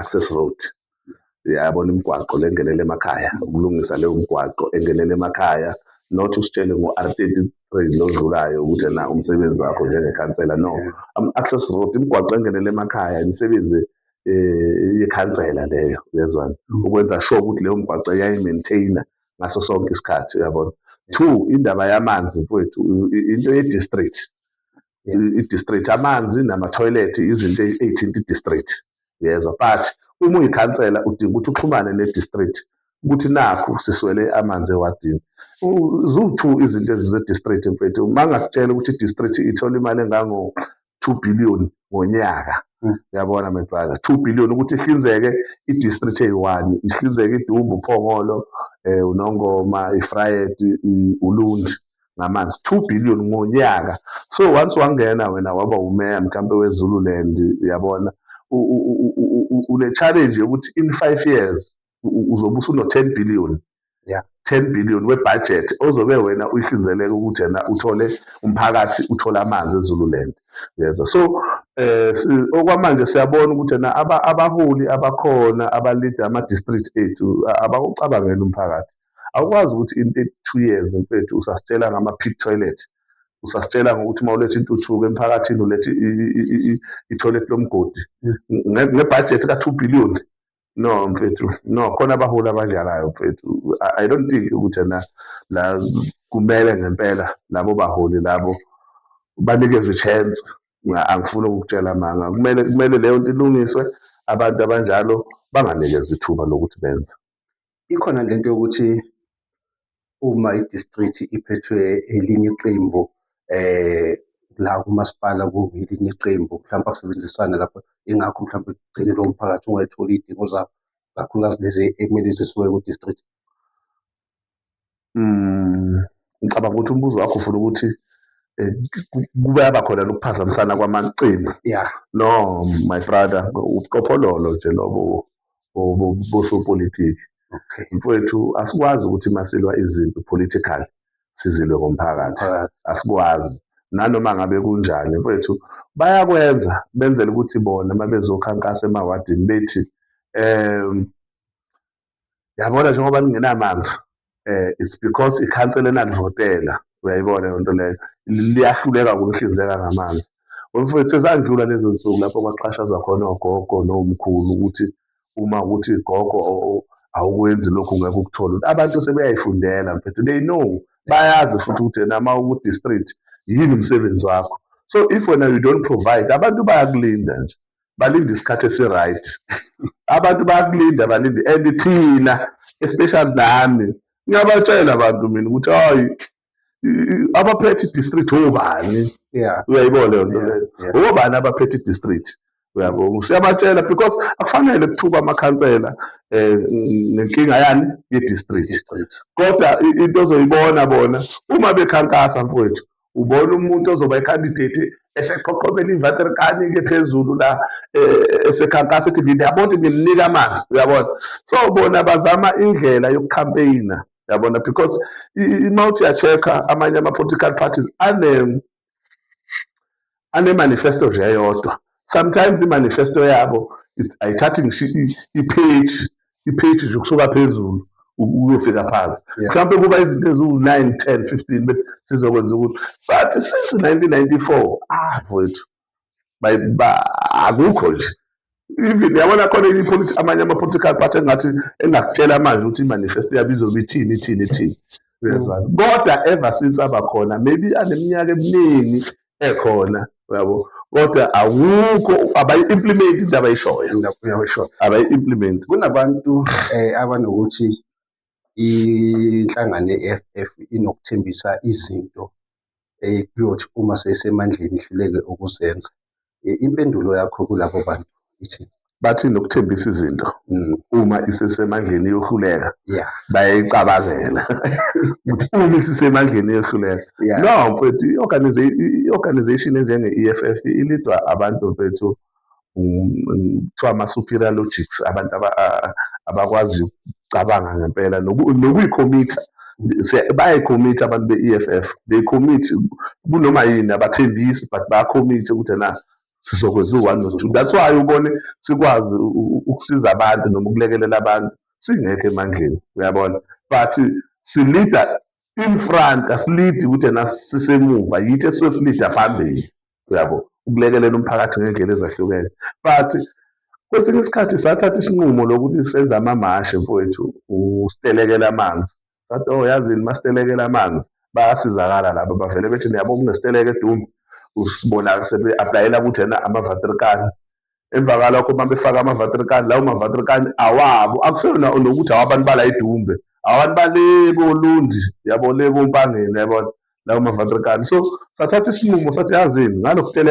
access road yabona imigwaqo le engenele emakhaya ukulungisa leyo mgwaqo engenele emakhaya not usitshele ngo-r thirty three lo odlulayo ukuthi na umsebenzi wakho njengekhansela no ama-access road imigwaqo engenele emakhaya imisebenzi um yekhansela leyo uyezwani mm. ukwenza sure ukuthi leyo mgwaqo yayi-maintainer ngaso sonke isikhathi uyabona two indaba yamanzi mfowethu into ye-district i-district amanzi namathoyilethi izinto ey'thinta i-district yezwa but uma uyikhansela udinga ukuthi uxhumane ne-district ukuthi nakhu siswele amanzi ewadini ziwu-two izinto ezize-district mfethu uma ngakutshela ukuthi i-district ithola imali engango-two billion ngonyaka hmm. yabona my brother two billion ukuthi ihlinzeke i-district eyi-one ihlinzeke idumbu uphongolo um unongoma ifrayedi ulundi ngamanzi 2 billion ngonyaka so once wangena wena waba umeya mhlampe wezululand uyabona une-challenge yokuthi in five years uzobe usuno-ten billion yeah. 10 billion webudget ozobe wena uyihlinzeleka ukuthi yena uthole umphakathi uthole amanzi ezululand yezwa so eh okwamanje siyabona ukuthi yena abaholi abakhona abalida ama-district ethu abawucabangela umphakathi Awukwazi ukuthi in 32 years mfethu usasitshela ngama pit toilet. Usasitshela ngokuthi uma uletha intuthuko emphakathini ulethe i-toilet lomgodi ngebudget ka-2 billion. No mfethu, no khona abaholi abadlalayo mfethu. I don't think ukuthi na la kumele ngempela labo baholi labo banikezwe chance. Angifuni ukukutshela amanga. Kumele kumele leyo nto ilungiswe abantu abanjalo banganikezwe ithuba lokuthi benze. ikhona le nto yokuthi uma i-district iphethwe elinye iqembu eh la kumasipala kungelinye iqembu mhlawumbe akusebenziswana lapho ingakho mhlawumbe kugcine lowo mphakathi ungayitholi iy'dingo zabo kakhulukazi lezi ekumele zisuke ku-district Mm, ngicabanga ukuthi umbuzo wakho ufuna ukuthi eh, kube yaba khona lokuphazamisana kwamaqembu ya no my brother ubuqophololo nje lobo bosopolitiki okay mfowethu asikwazi ukuthi masilwa izinto political sizilwe ngomphakathi asikwazi nanoma ngabe kunjani mfowethu bayakwenza benzela ukuthi bona uma bezokhankasa emawadini bethi um yabona njengoba ningenamanzi eh it's because ikhansela enanivotela uyayibona yonto leyo liyahluleka ukunihlinzeka ngamanzi umfowethu sezandlula lezo nsuku lapho kwaxhashazwa khona ogogo nomkhulu ukuthi uma ukuthi gogo awukwenzi lokhu ngeke ukuthole abantu sebeyayifundela mfethu they know bayazi futhi ukuthi yena uma uku-district yini umsebenzi wakho so if wena you don't provide abantu bayakulinda nje balinde isikhathi esi-right abantu bayakulinda balinde and thina especially nami ngiyabatshela abantu mina ukuthi hayi abaphethe i-district obani uyayibona leyo nto leyo obani abaphethe i-district uyabo siyabatshela because akufanele kuthuba amakhansela um nenkinga yani ye-district kodwa into ozoyibona bona uma bekhankasa mfowethu ubona umuntu ozoba ikhandidate eseqhoqhobela ivateri kanike phezulu la e, e, esekhankasa ethi ngiyabona ukuthi ngimnika amanzi uyabona so bona bazama indlela yokukhampeyina yabona because uma uthi yacheck-a amanye ama-political parties ane anemanifesto nje eyodwa sometimes imanifesto yabo ayithathi ngisho ipage ipage nje ukusuka phezulu ukuyofika phansi mhlawumbe kuba izinto eziwu-nine ten fifteen but sizokwenza ukuthi but since nineteen ninety-four ah mfowethu akukho nje even yabona khona enye ipoliti amanye ama-political party engathi engakutshela manje ukuthi i-manifesto yabo izobe ithini ithini ithini uyazwana mm. kodwa ever since abakhona maybe aneminyaka eminingi ekhona yabo kodwa awukho abayi-implement into abayishoyo abayi-implement kunabantu um abanokuthi inhlangano ye-EFF inokuthembisa izinto ekuyothi uma seyisemandleni ihluleke ukuzenza. Impendulo yakho kulabo bantu ithini? Bathi nokuthembisa izinto mm. uma isesemandleni iyohluleka bayayicabangela ukuthi uma isisemandleni iyohluleka no mfethu i-organization enjenge-EFF ilidwa abantu mfethu kuthiwa ama-superior logics abantu abakwazi ukucabanga ngempela nokuyikhomitha bayayikhomitha abantu be-EFF they commit kunoma yini abathembisi but bayakhomitha ukuthi na sizokwenza u-one no two that's why ubone sikwazi ukusiza abantu noma ukulekelela abantu singekho emandleni uyabona but silida in front asilidi ukuthi na sisemuva yithi esuke silida phambili uyabo ukulekelela umphakathi ngey'ndlela ezahlukene but kwesinye isikhathi sathatha isinqumo lokuthi senze amamashi mfowethu usitelekela amanzi sathi oh yazini masitelekela amanzi bayasizakala laba bavele bethi niyabo kunesiteleka edumbe usibona sebe-aplayela ukuthi ena ama-vatrikani emva kalokho uma befaka amavatrikani lawo mavatrikani awabo akuseyona nokuthi awabantu bala idumbe abantu bale kolundi yabo le kompangeni yabona lawo mavatrikani so sathatha isinqumo sathi yazini ngalokuteleka